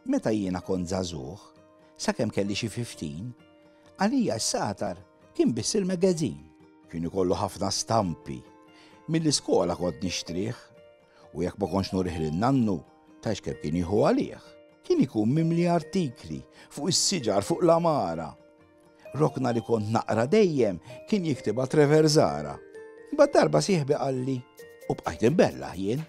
Meta jiena kont żagħżugħ, sakemm kelli xi 15, għalija s-satar kien biss il-magazin. Kien ikollu ħafna stampi. Mill-iskola kont nixtrih u jekk ma konx nurih lil nannu, tax kemm kien jieħu għalih. Kien ikun mimli artikli fuq is-siġar fuq l-amara. Rokna li kont naqra dejjem kien jiktibha Trevor Zara. Imbagħad darba sieħbi qalli u bqajt imbella jien.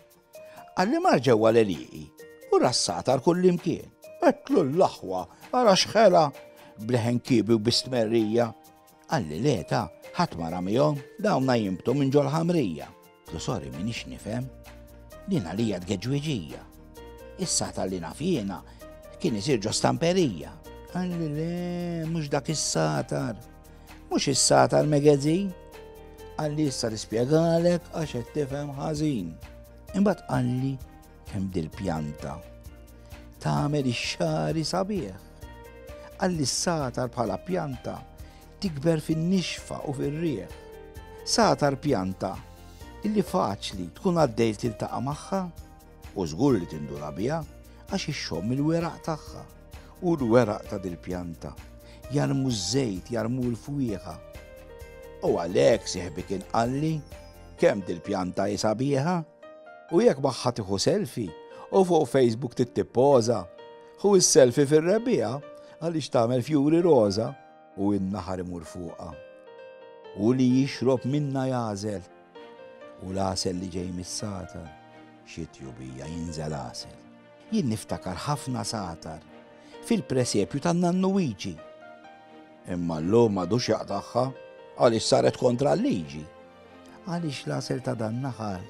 Qalli mar ġewwa l-eliqi u rassata għal kull imkien. Għetlu l-aħwa, għara xħela, bleħen kibi u bistmerrija. Għalli leta, ħat mara miegħhom, dawna jimbtu minn ġol ħamrija. Lu sorry minix nifhem. Din għalija tgeġwiġija. Issa ta' li naf jiena kien isir ġo stamperija. Għalli le, mhux dak is-satar. Mhux is-satar magazine. Għalli issa nispjegalek għax qed tifhem ħażin. Imbagħad qalli kemm dil-pjanta tagħmel ix-xari sabiħ. Għalli s-satar bħala pjanta Tikber fin-nixfa u fir-riħ. Sagħtar pjanta illi faċli tkun għaddej tiltaqa' magħha u żgur li tinduna biha għax ixxomm il-weraq tagħha. U l-weraq ta' dil-pjanta jarmu ż-żejt, jarmu l-fwieħa. U għalhekk sieħbi kien qalli kemm dil-pjanta hi sabiħa u jekk magħha tieħu selfi u fuq Facebook tittippoża, hu s-selfi fir-rebbiegħa għaliex tagħmel fjuri roża. u n-naħar imur fuqha, u li jixrob minnha jagħżel, u l-għasel li ġej mis-sagħtar, xi tjubija, jinżel għasel. Jien niftakar ħafna sagħtar fil-presepju tan-Nannu Wiċi. Imma llum m'għadux jaqtagħha għaliex saret kontra l-liġi. Għaliex l-għasel ta' dan-naħar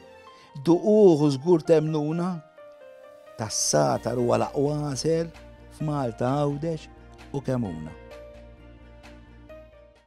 Duquh u żgur temmnuna, tas-Satar huwa l-aqwa għasel f'Malta, Għawdex u Kemmuna.